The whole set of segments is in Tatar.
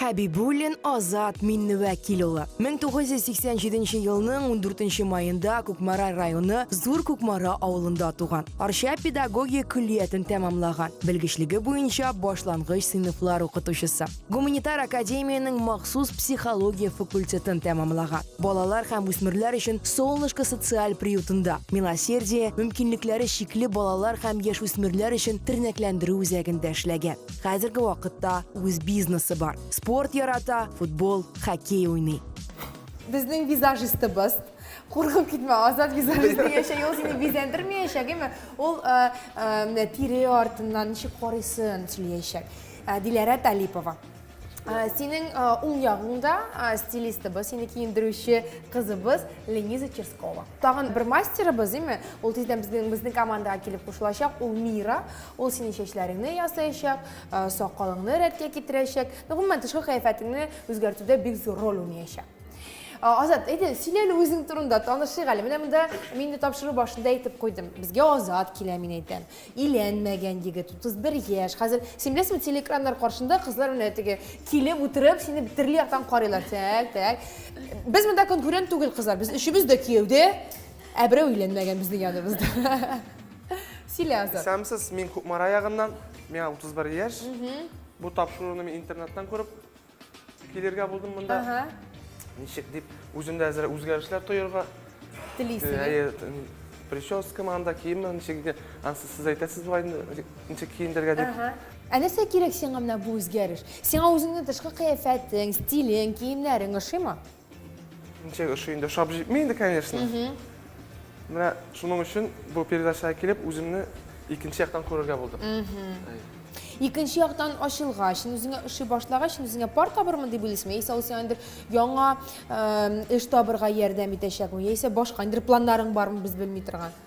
Хәбибуллин Азат Минневәкил улы. 1987 елның 14 маенда Кукмара районы Зур Кукмара авылында туган. Арча педагогия көллиятен тәмамлаган. Белгечлеге буенча башлангыч сыйныфлар укытучысы. Гуманитар академиянең махсус психология факультетын тәмамлаган. Балалар һәм үсмерләр өчен Солнышко социаль приютында, Милосердие, мөмкинлекләре чикле балалар һәм яшүсмерләр өчен тернәкләндерү үзәгендә эшләгән. Хәзерге вакытта үз бизнесы бар. Спорт ярата, футбол, хоккей уйный. Безнең визажистыбыз Куркып китмә, Азат визажист дигәнчә ул сине бизәндермәячәк, әйме? Ул э, э, тире артыннан ничек карыйсын сөйләячәк. Э, Диләрә Талипова. Э, синең э, уң ягыңда э, стилистыбыз, сине киендерүче кызыбыз Лениза Черскова. Тагын бер мастерыбыз, име? Ул тиздән безнең безнең командага килеп кушылачак. Ул Мира. Ул синең чәчләреңне ясаячак, сакалыңны рәткә китерәчәк, гомумән тышкы кыяфәтеңне үзгәртүдә бик зур роль уйнаячак. Азат, әйдә, сөйлә әле үзең турында, танышыйк әле. Менә монда мин дә тапшыру башында әйтеп куйдым. Безгә Азат килә, мин әйтәм. Иләнмәгән егет, 31 яшь. Хәзер син беләсеңме, телеэкраннар каршында кызлар менә теге килеп утырып, сине төрле яктан карыйлар. Так, так. Без монда конкурент түгел, кызлар. Без өчебез дә кияүдә, ә берәү иләнмәгән безнең яныбызда. Сөйлә, Азат. Исәнмесез, мин Кукмара ягыннан, миңа 31 яшь. Бу тапшыруны мин интернеттан күреп килергә булдым монда. Ага. Ничек дип, үземдә әзер үзгәрешләр тоерга. Телисең. Әйе, прическа манда киемме, ничек итә, ансы сез әйтәсез бугай инде, ничек киендергә дип. Ага. Ә нәрсә кирәк сиңа менә бу үзгәреш? Сиңа үзеңнең тышкы кыяфәтең, стилең, киемнәрең ошыймы? Ничек ошый инде, ошап җитми инде, конечно. Менә шуның өчен бу передачага килеп, үземне икенче яктан күрергә булдым. Икенче яктан ачылгач, үзеңә ошый башлагач, үзеңә пар табырмын дип уйлыйсыңмы? Яисә ул сиңа яңа эш табырга ярдәм итәчәкме? Яисә башка ниндидер планнарың бармы, без белми торган?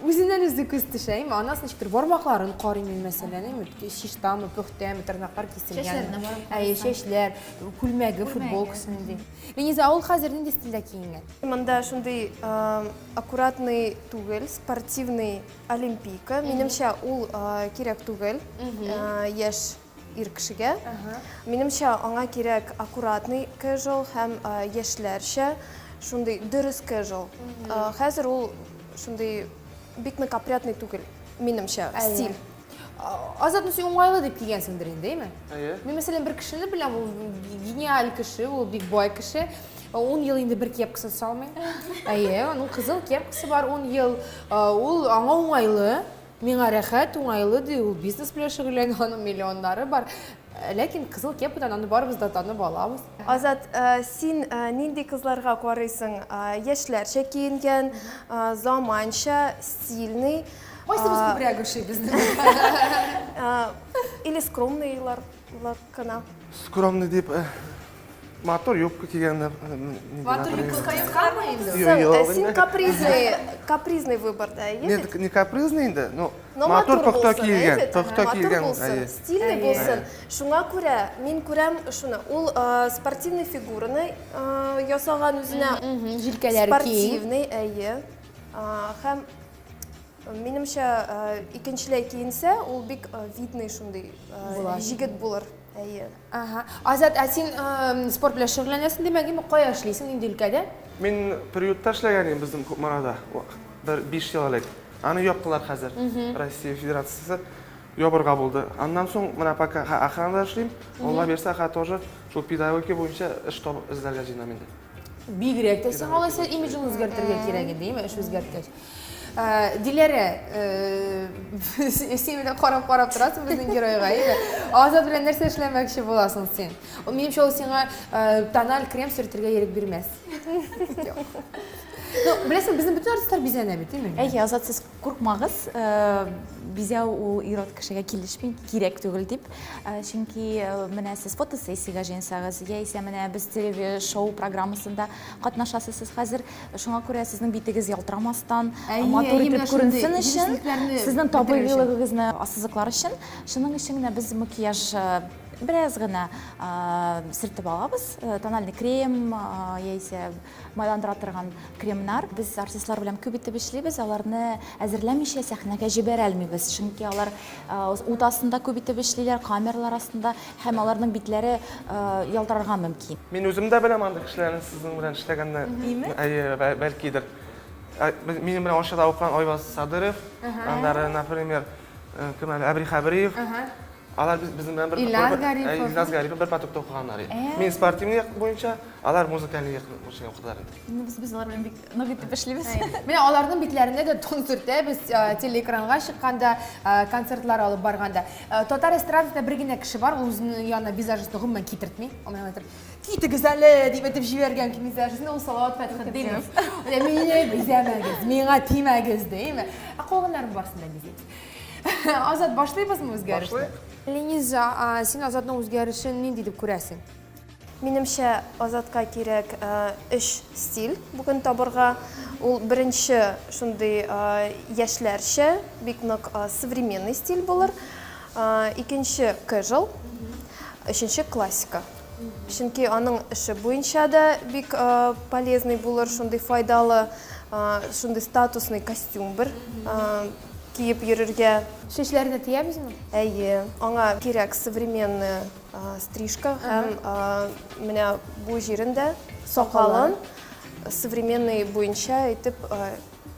Үзеннән үзе күз төшә, әйме, анасы ничектер бармакларын карыйм мин мәсәлән, әйме, чистамы, пөхтәме, тырнаклар киселгән. Чәчләренә барып карыйм. Әйе, чәчләр, күлмәге, футболкасы нинди. Лениза, ә ул хәзер нинди стильдә киенгән? Монда шундый аккуратный түгел, спортивный олимпийка. Минемчә, ул кирәк түгел яшь ир кешегә. Минемчә, аңа кирәк аккуратный casual һәм яшьләрчә шундый дөрес casual. Хәзер ул шундый бик нык опрятный түгел, минемчә, стиль. Азат, ну син уңайлы дип кигәнсеңдер инде, әйме? Әйе. Мин, мәсәлән, бер кешене беләм, ул гениаль кеше, ул бик бай кеше. Ун ел инде бер кепкасын салмый. Әйе, аның кызыл кепкасы бар ун ел. Ул аңа уңайлы. Миңа рәхәт, уңайлы, ди ул, бизнес белән шөгыльләнә, аның миллионнары бар. Э, ләкин кызыл кепкадан аны барыбыз да танып алабыз. Азат, э, син э, нинди кызларга карыйсың? Яшьләрчә киенгән, заманча, стильный. Кайсыбыз күбрәк ошый безнең? Или скромныйлар кына. Скромный дип Матур юбка кигәннәр. Матур юбка кайтканмы инде? Юк, син капризный, капризный выборда, әйе? Нет, не капризный инде, но матур пөхтә килгән, пөхтә килгән, әйе. Стильный булсын. Шуңа күрә мин күрәм шуны. Ул спортивный фигураны ясаган үзенә. Җилкәләре киң. Спортивный, әйе. Һәм минемчә икенчеләй киенсә, ул бик видный шундый җигет булыр. Әйе. Ага. Азат, ә син спорт белән шөгыльләнәсең, димәк, инде кая эшлисең, нинди өлкәдә? Мин приютта эшләгән идем безнең Кукмарада. Бер 5 ел элек. Аны яптылар хәзер. Россия Федерациясе ябырга булды. Аннан соң менә пока ха охранада эшлим. Алла бирсә, ха тоже шул педагогика буенча эш табып эзләргә җыенам инде. Бигрәк тә сиңа алайса имиджын үзгәртергә кирәк инде, яме эш үзгәрткәч. Э, Диләрә, э, син менә карап карап торасың безнең геройга, әйе. Азат белән нәрсә эшләмәкче буласың син? Ул минемчә ул сиңа э, тональ крем сөртергә ирек бирмәс. Ну, беләсең, безнең бөтен артистлар бизәнә бит, әйме? Әйе, Азат сез Куркмагыз, бизәү ул ир-ат кешегә килешми, кирәк түгел дип. Чөнки менә сез фотосессиягә җыенсагыз, яисә менә без телевишоу программасында катнашасыз сез хәзер, шуңа күрә сезнең битегез ялтырамастан, матур итеп күренсен өчен, сезнең табигыйлыгыгызны ассызыклар өчен, шуның өчен генә без макияж бераз гына сөртеп алабыз, тональный крем яисә. Майландыра торган кремнар. Без артистлар белән күп итеп эшлибез, аларны әзерләмичә сәхнәгә җибәрә алмыйбыз, чөнки алар ут астында күп итеп эшлиләр, камералар астында, һәм аларның битләре ялтырарга мөмкин. Мин үзем дә беләм андый кешеләрне сезнең белән эшләгәнне. Име? Әйе, бәлкидер. Минем белән Арчада укыган Айваз Садырев, аннары, например, кем әле, Әбри Хәбриев. Алар без безнең белән бер Илназ бер- Гарипов. ә, Илназ Гарипов бер потокта укыганнар. и. Ә. Мин спортивный як буенча, алар музыкальный як буенча укыдылар инде. Ну, без, без алар белән бик нык итеп эшлибез. Менә аларның битләренә дә тон сөртәбез, э, телеэкранга чыкканда, э, концертлар алып барганда. Э, Татар эстрадасында бер генә кеше бар, ул үзенең янына визажистны гомумән китертми. Ул миңа әйтер, Китегез әле! дип әйтеп җибәргән ки визажистны, ул Салават Фәтхетдинов. Менә мине бизәмәгез, миңа тимәгез, дими. Ә калганнарның барысын да бизибез. Азат, башлыйбызмы үзгәрешне? Башлыйк. Лениза, син Азатның үзгәрешен нинди дип күрәсең? Минемчә, Азатка кирәк өч стиль бүген табырга. Ул беренче шундый яшьләрчә, бик нык современный стиль булыр. Икенче кэжел, өченче классика. Чөнки аның эше буенча да бик полезный булыр, шундый файдалы, шундый статусный костюм бер киеп йөрергә. Чәчләрне тиябезме? Әйе, аңа кирәк современный стрижка һәм менә бу җирен дә, сакалын современный буенча итеп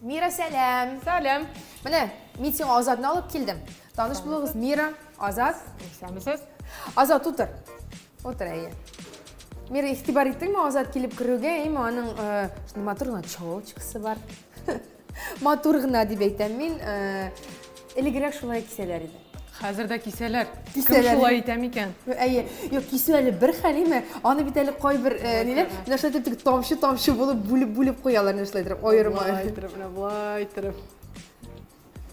Мира, сәлам! Сәлам! Менә, мин сиңа Азатны алып килдем. Таныш булыгыз, Мира, Азат. Исәнмесез. Азат, утыр. Утыр, әйе. Мира, ихтибар иттеңме Азат килеп керүгә, әйме, аның шундый матур гына челочкасы бар. Матур гына дип әйтәм мин. Элегрәк шулай кисәләр иде. Хәзер дә кисәләр. Кем шулай итә микән? Әйе. Юк, кисү әле бер хәлиме? Аны бит әле кайбер э, ниләр, менә шулай итеп тамчы-тамчы булып бүлеп-бүлеп куялар, менә шулай итеп, аерма. Болай иттереп, менә болай иттереп.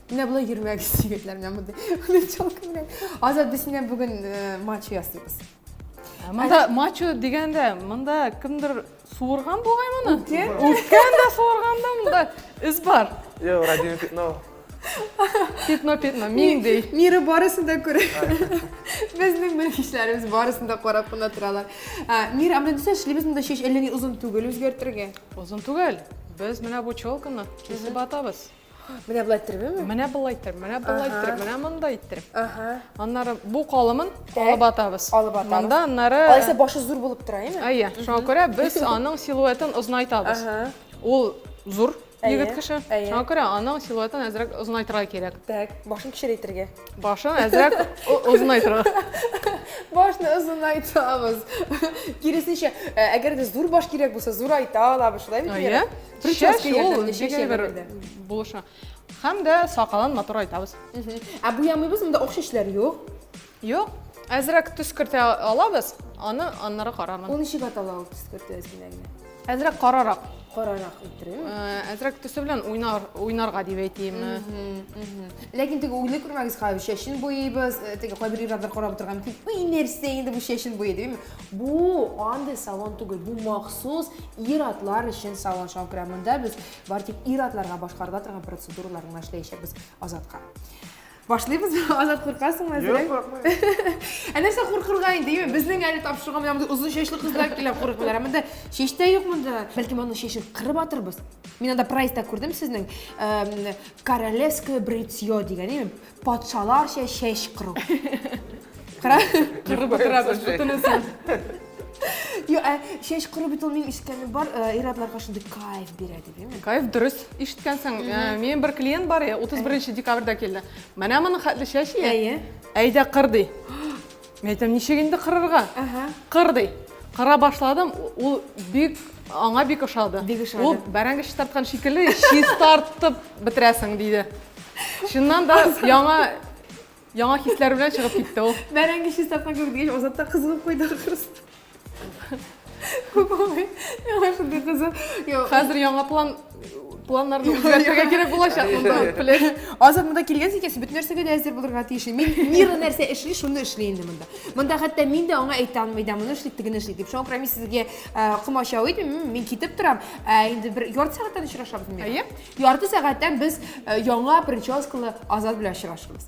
Менә болай йөрмәгез, егетләр, менә мондый. Мондый челка белән. Азат, без синнән бүген э, матч ясыйбыз. Ә монда матч дигәндә, монда кемдер Суырган бугай моны? Үткен. Үткен дә суырган да монда эз бар. Йо, радио пятно. Пятно, пятно, миңдей. Миры барысын да күрә. Безнең белгечләребез барысын да карап кына торалар. Мир, ә менә дисә, эшлибез монда чәч әллә ни озын түгел үзгәртергә. Озын түгел. Без менә бу челканы кисеп атабыз. Менә болай иттермеме? Менә болай иттереп, менә болай иттереп, менә монда иттереп. Ага. Аннары бу калымын алып атабыз. Алып атабыз. Монда аннары Алайса башы зур булып тора, әйме? Әйе, шуңа күрә без аның силуэтын озынайтабыз. Ага. Ул зур егет кеше. Шуңа күрә аның силуэтын әзрәк озынайтырга кирәк. Так, башын кечерәйтергә. Башын әзрәк озынайтырга. Башны озынайтабыз. Киресенчә, әгәр дә зур баш кирәк булса, зурайта алабыз, шулаймы? Әйе. Чәч ул дигән бер булышы. Һәм дә сакалын матур айтабыз. Ә буямыйбыз, монда акча эшләр юк. Юк. Әзрәк төс кертә алабыз, аны аннары карармын. Ул ничек атала ул төс кертү әзерләгән? Әзрәк карарак. Карарак иттерә. Э, әзрәк төсе белән уйнар, уйнарга дип әйтим. Ләкин теге уйлы күрмәгез хәзер, чәчен буйыйбыз, э, теге кайбер ирләр карап утырган мөмкин. Уй, нәрсә инде бу чәчен буйый, димме? Бу андый салон түгел, бу махсус ир-атлар өчен салон. Шуңа күрә монда без бар тик ир-атларга башкарыла торган процедуралар гына эшләячәкбез Азатка. Башлыйбыз. Азат куркасыңмы әзер? Юк, куркмыйм. Ә нәрсә куркырга инде, юме? Безнең әле тапшырга менә монда озын чәчле кызлар килә куркмыйлар. Ә монда чәч тә юк монда. Бәлки моның чәчен кырып атырбыз. Мин анда прайста күрдем сезнең королевское бритье дигән, юме? Патшаларча чәч кыру. Кыра. Кырып утырабыз, бөтенесен. Йо, ә чәч кыру бит ул мин ишеткәнем бар, ир-атларга шундый кайф бирә дип, әйме? Кайф дөрес ишеткәнсең. Мин бер клиент бар, 31 декабрьдә килде. Менә моның хәтле чәч ия. Әйе. Әйдә кыр ди. Мин әйтәм, ничек инде кырырга? Кыр ди. Кыра башладым, ул бик аңа бик ошады. Бик ошады. Ул бәрәңге чистарткан шикелле чистартып бетерәсең диде. Чыннан да яңа яңа хисләр белән чыгып китте ул. Бәрәңге чистарткан кебек дигәч, Азат та кызыгып куйды ахрысы. Яңа шундый кызы. Хәзер яңа план планнарны үзгәртергә кирәк булачак монда. Плеш. Азат монда килгәнсең икән, син бөтен нәрсәгә дә әзер булырга тиеш. Мин Мира нәрсә эшли, шуны эшли инде монда. Монда хәтта мин дә аңа әйтә алмый да, моны эшли, тегене эшли дип. Шуңа күрә мин сезгә э, комачау итмим, мин китеп торам. Ә инде бер ярты сәгатьтән очрашабыз мин. Әйе. Ярты сәгатьтән без э, яңа прическалы Азат белән очрашабыз.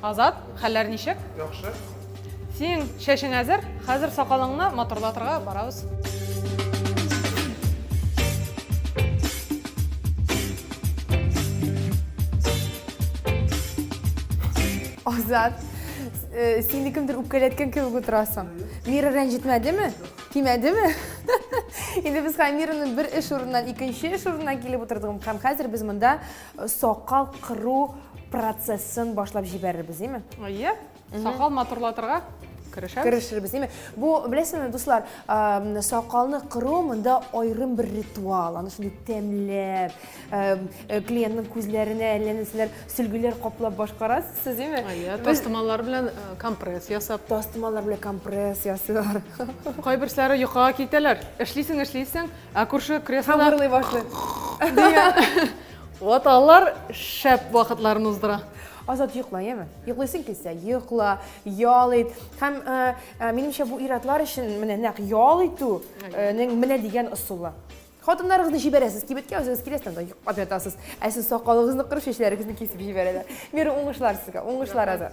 Азат, хәлләр ничек? Яхшы. Синең чәчең әзер, хәзер сакалыңны матурлатырга барабыз. Азат, э, син кемдер үпкәләткән кебек утырасың. Мира рәнҗетмәдеме? Тимәдеме? Инде без Хамираны бер эш урыннан икенче эш урынына килеп утырдыгым һәм хәзер без монда Сакал кыру процессын башлап җибәрербез, дими? Әйе. Сакал матурлатырга керешәбез. Керешербез, дими? Бу, беләсезме, дуслар, сакалны кыру монда айрым бер ритуал. Аны шундый тәмләп, э, клиентның күзләренә әллә нәрсәләр, сөлгеләр каплап башкарасыз, сез, дими? Әйе, тастымаллар белән э, компресс ясап. Тастымаллар белән компресс ясыйлар. Кайберсәләре йокыга китәләр. Эшлисең, эшлисең, Ә күрше креслода... Һәм урлый башлый. Дигән. Вот алар шәп вакытларын уздыра. Азат йокла, яме. Йоклыйсың килсә, йокла, ял ит. Һәм э, э, минемчә бу иратлар өчен менә нәкъ ял итүнең э, менә дигән ысулы. Хатыннарыгызны җибәрәсез кибеткә, үзегез киләсез, анда йоклап ятасыз. Ә сез сакалыгызны кырып, чәчләрегезне кисеп җибәрәләр. Мир уңышлар сезгә, уңышлар азат.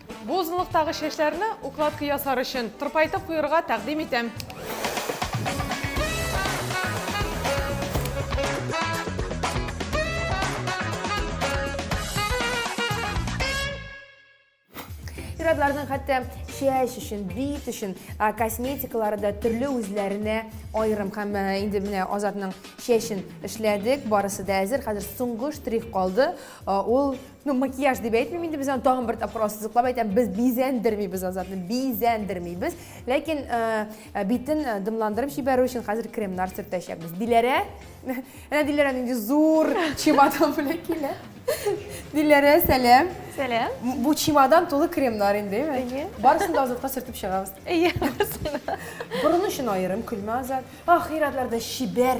Бу озынлыктагы чәчләрне укладка ясар өчен тырпайтып куерга тәкъдим итәм. Ир-атларның хәтта чәч өчен, бит өчен косметикалары да төрле үзләренә аерым. Һәм инде менә Азатның чәчен эшләдек, барысы да әзер. Хәзер соңгы штрих калды. Ул Ну, макияж дип әйтмим инде без аны тагын бер тапкыр ассызыклап әйтәм, без бизәндермибез Азатны, бизәндермибез. Ләкин э, э, битен э, дымландырып җибәрү өчен хәзер кремнар сөртәчәкбез. Диләрә, әнә Диләрә нинди зур чемодан белән килә. Диләрә, сәлам. Сәлам. Бу чемодан тулы кремнар инде, әйе. Барысын да Азатка сөртеп чыгабыз. Әйе, барысын да. Борын өчен аерым көлмә Азат. Ахиратларда шибәр.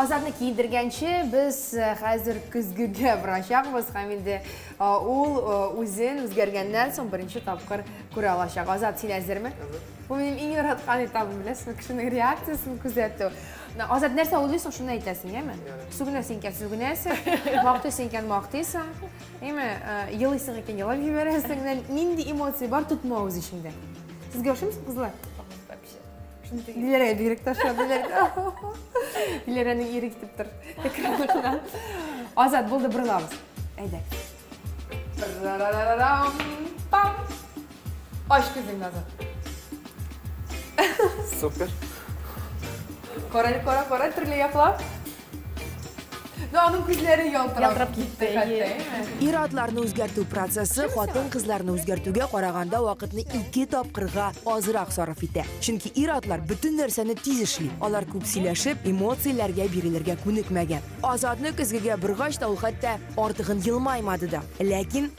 Азатны киендергәнче без э, хәзер көзгегә барачакбыз һәм инде э, ул э, үзен үзгәргәннән соң беренче тапкыр күрә алачак. Азат, син әзерме? Бу минем иң яраткан этабым, беләсеңме, кешенең реакциясен күзәтү. Азат, нәрсә уйлыйсың, шуны әйтәсең, яме? Сүгенә син икән, сүгенәсең, мактый син икән, мактыйсың, яме? Елыйсың икән, елап җибәрәсең. Нинди эмоция бар, тотма үз эчеңдә. Сезгә ошыймы кызлар? Диләрәгә бигрәк ташлар, диләрәгә. Диләрәне ире китеп тор. Экраннардан. Азат, булды, борылабыз. Әйдә. Пам! Ач күзең назы. Супер. Карай, кара, кара, төрле яклап. Ну, аның күзләре ялтырап китте хәтта. Ир-атларны үзгәртү процессы хатын-кызларны үзгәртүгә караганда вакытны ике тапкырга азрак сарыф итә. Чөнки ир-атлар бөтен нәрсәне тиз эшли. Алар күп сөйләшеп, эмоцияләргә бирелергә күнекмәгән. Азатны көзгегә боргач та ул хәтта артыгын елмаймады да. Ләкин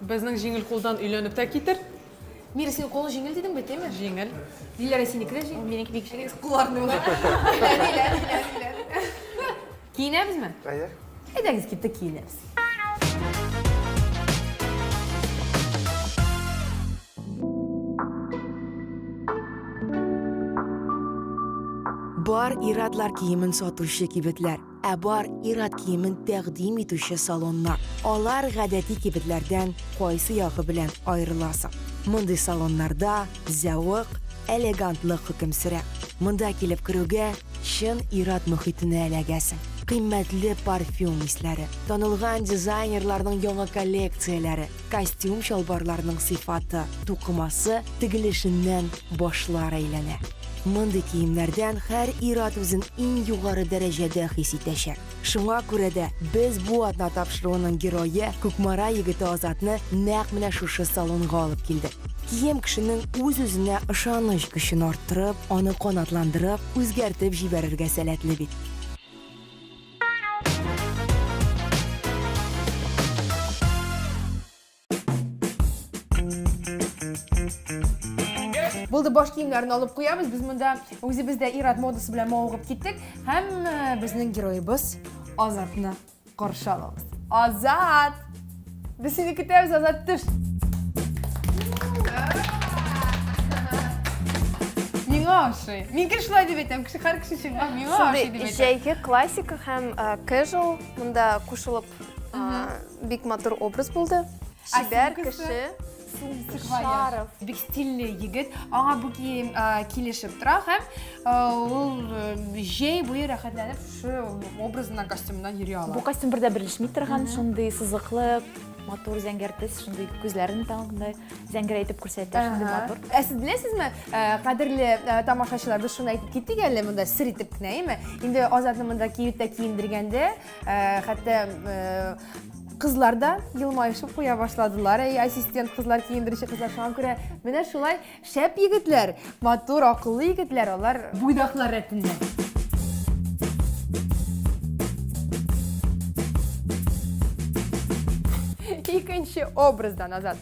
Безнең җиңел кулдан өйләнеп тә китер. Мира, синең кулың җиңел дидең бит, дими? Җиңел. Диләрә, синеке дә җиңел. Минеке бик җиңел. Кулларның да. Киенәбезме? Әйе. Әйдәгез, киттек, киенәбез. Бар ир-атлар киемен сатучы кибетләр. Ә бар ир-ат киемен тәкъдим итүче салоннар. Алар гадәти кибетләрдән кайсы ягы белән аерыла соң? Мондый салоннарда зәвык, элегантлык хөкем сөрә. Монда килеп керүгә, чын ир-ат мохитенә эләгәсең. Кыйммәтле парфюм исләре, танылган дизайнерларның яңа коллекцияләре, Костюм-чалбарларның сыйфаты, тукымасы, тегелешеннән башлар әйләнә. Мондый киемнәрдән һәр ир-ат үзен иң югары дәрәҗәдә хис итәчәк. Шуңа күрә дә без бу атна тапшыруының герое, Кукмара егете Азатны нәкъ менә шушы салонга алып килдек. Кием кешенең үз-үзенә ышаныч көчен арттырып, аны канатландырып, үзгәртеп җибәрергә сәләтле бит. Булды баш киемнәрен алып куябыз. Без монда үзебез дә ирад модасы белән мавыгып киттек. Һәм э, безнең героебыз Азатны каршы алабыз. Азат! Без сине көтәбез, Азат, төш. Миңа ошый. Мин кеше шулай дип әйтәм, кеше һәр кеше чынга миңа ошый дип әйтәм. Җәйге классика һәм casual монда кушылып бик матур образ булды. Шибәр кеше. Сумка Шаров. Бик стильный егет. Аңа бу кием килешеп тора һәм ул җәй буе рәхәтләнеп шушы образына костюмнан йөри ала. Бу костюм бердә берлешми торган, шундый сызыклы, матур зәңгәр төс, шундый күзләрен таңгындай зәңгәр әйтеп күрсәтә, шундый матур. Ә сез беләсезме, кадерле тамашачылар, без шуны әйтеп киттек әле монда сер итеп кенә, әйме? Инде Азатны монда киюттә киендергәндә, хәтта Кызлар да елмаешып куя башладылар. Әй, ассистент кызлар, киендерүче кызлар шуңа күрә. Менә шулай шәп егетләр, матур, акыллы егетләр, алар буйдаклар рәтендә. Икенче образда назад.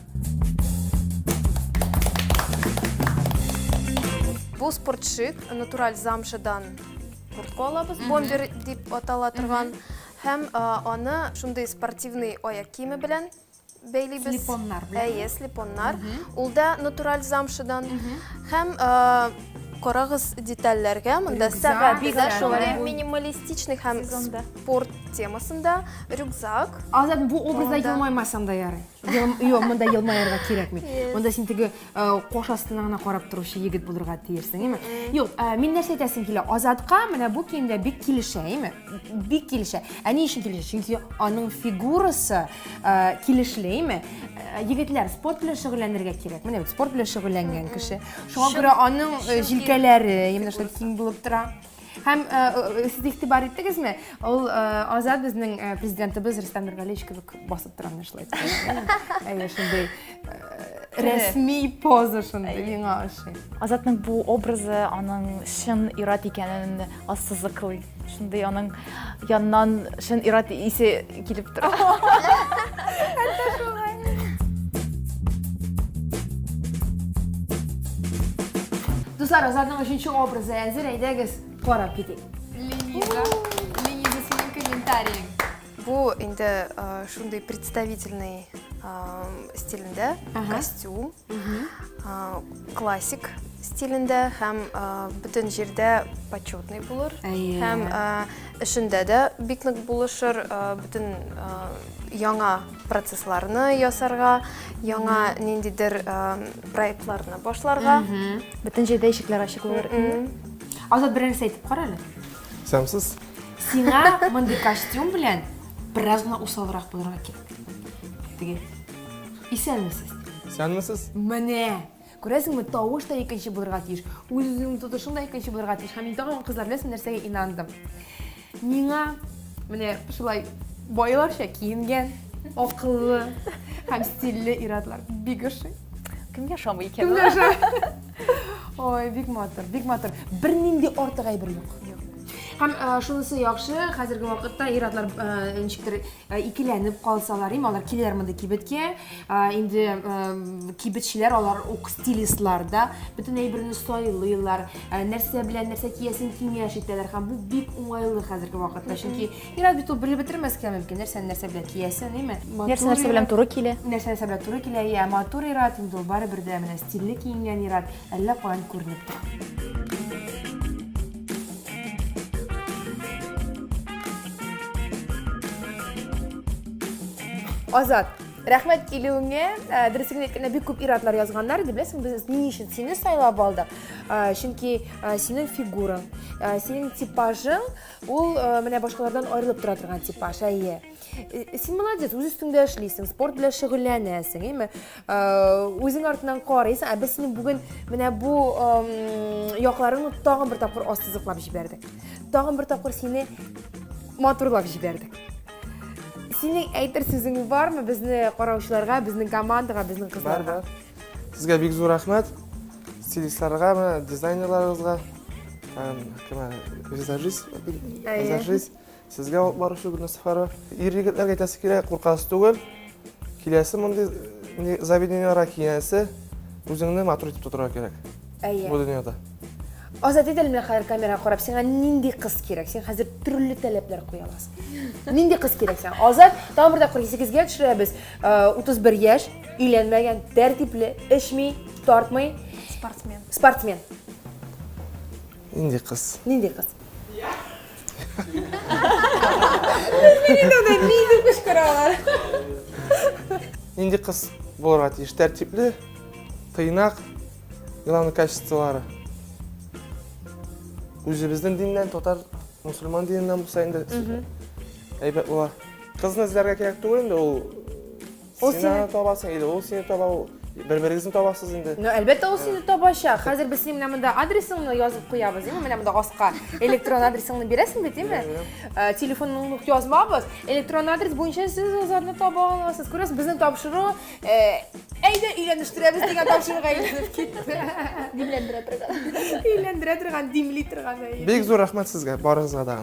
Бу спортшит натураль замшадан куртка алабыз, бомбер дип атала торган. Һәм аны шундый спортивный аяк киеме белән бәйлибез. Слепоннар белән. Әйе, слепоннар. Ул да натураль замшыдан. Һәм карагыз детальләргә. Монда сәгать дә шулай минималистичный һәм спорт темасында рюкзак. Азат, бу образда елмаймасам да ярый. Юк, монда елмаярга кирәкми. Монда син теге кош астына гына карап торучы егет булырга тиешсең, әйме? Юк, мин нәрсә әйтәсем килә? Азатка менә бу киемдә бик килешә, әйме? Бик килешә. Ә ни өчен килешә? Чөнки аның фигурасы килешле, әйме? Егетләр, спорт белән шөгыльләнергә кирәк. Менә бит спорт белән шөгыльләнгән кеше. Шуңа күрә аның җилкәләре, әйме, шулай киң булып тора. Һәм сез игътибар иттегезме? Ул Азат безнең президентыбыз Рөстәм Нургалиевич кебек басып тора менә шулай. Әйе, шундый рәсми поза шундый миңа ошый. Азатның бу образы аның чын ир-ат икәнен ассызыклый. Шундый аның Яннан шын ират исе килеп тора. Дуслар, Азатның өченче образы әзер, әйдәгез карап китик. Лениза, Лениза синең комментарий. Бу инде шундый представительный стилендә, костюм. классик стилендә һәм бөтен җирдә почетный булыр һәм эшендә дә бик нык булышыр бөтен яңа процессларны ясарга яңа ниндидер проектларны башларга бөтен җирдә ишекләр ачык булыр азат бер нәрсә әйтеп кара әле сәмсез сиңа мондый костюм белән бераз гына усалрак булырга кирәк Теге. Исәнмесез. Исәнмесез. Менә. Күрәсеңме, тавыш та икенче булырга тиеш. Үзеңнең тотышың да икенче булырга тиеш. Һәм мин тагын кызлар беләсең нәрсәгә инандым. Миңа менә шулай байларча киенгән, акыллы һәм стильле иратлар бик ошый. Кем яшамый икән? Кем яшамый? Ой, бик матур, бик матур. Бернинди артык әйбер юк. Һәм э, шунысы яхшы, хәзерге вакытта ир-атлар э, ничектер Ә икеләнеп калсалар, им, алар киләләр мондый кибеткә. Ә, инде ә, кибетчеләр алар ук стилистлар да, бөтен әйберне сайлыйлар, ә, нәрсә белән нәрсә киясен киңәш итәләр һәм бу бик уңайлы хәзерге вакытта, чөнки мирас бит ул белеп бетермәскә мөмкин, нәрсәне нәрсә белән киясен, име? Нәрсә нәрсә белән туры килә? Нәрсә нәрсә белән туры килә, я матур ират, инде ул барыбер дә менә стильле киенгән ират, әллә каян күренеп тора. Азат, рәхмәт килүеңә. Э, Дөресен әйткәндә, бик күп ир-атлар язганнар иде. Беләсең, без ни өчен сине сайлап алдык? Э, чөнки э, синең фигураң, синең типажың ул менә башкалардан аерылып тора торган типаж, әйе. Э, э, син молодец үз өстеңдә эшлисең спорт белән шөгыльләнәсең әйме э, үзең артынан карыйсың ә без сине бүген менә бу якларыңны тагын бер тапкыр ассызыклап җибәрдек тагын бер тапкыр сине матурлап җибәрдек синең әйтер сүзең бармы безне караучыларга безнең командаға безнең кызларга бар бар сезгә бик зур рәхмәт стилистларга дизайнерларыгызга визажист визажист Сезгә алып баручы Гөлнәсхара. Ир-егетләргә әйтәсе килә, куркасы түгел. Киләсе мондый э, заведениеләргә киләсе үзеңне матур итеп тотарга кирәк. Әйе. Бу дөньяда. Азат ит әле менә хәзер камерага карап, сиңа нинди кыз кирәк? Син хәзер төрле таләпләр куя аласың. Нинди кыз кирәк сиңа? Азат, тагын бер тапкыр 8-гә төшерәбез. 31 э, яшь, өйләнмәгән, тәртипле, эчми, тартмый. Спортсмен. Спортсмен. Нинди кыз? Нинди кыз? Нинди кычкыралар? Нинди кыз булырга тиеш? Тәртипле, тыйнак, главный качестволары. Үзебезнең диннән, татар, мусульман диненнән булса инде әйбәт була. Кызны эзләргә кирәк түгел инде ул Ул Син сине... аны табасың, или ул сине таба, ул... бер-берегезне табасыз инде. Ну, әлбәттә, ул сине табача. Хәзер без синең менә монда адресыңны язып куябыз, әйме? Менә монда аска электрон адресыңны бирәсең бит, әйме? Э, Телефоныңны ук язмабыз. Электрон адрес буенча сез озатны таба аласыз. Күрәсез, безнең тапшыру э, әйдә өйләнештерәбез дигән тапшыруга әйләнеп китте. Димләндерә торган. Өйләндерә торган, димли торган әйе. Бик зур рәхмәт сезгә, барыгызга да.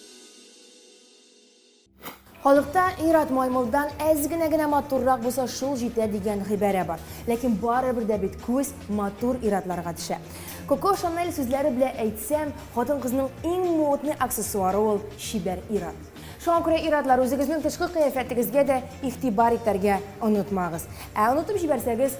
Халыкта Ират маймылдан әз генә генә матуррак булса шул җитә дигән гыйбарә бар. Ләкин барыбер дә бит күз матур иратларга төшә. Коко Шанель сүзләре белән әйтсәм, хатын-кызның иң модный аксессуары ул чибәр ират. Шуңа күрә иратлар, үзегезнең тышкы кыяфәтегезгә дә игътибар итәргә онытмагыз. Ә онытып җибәрсәгез,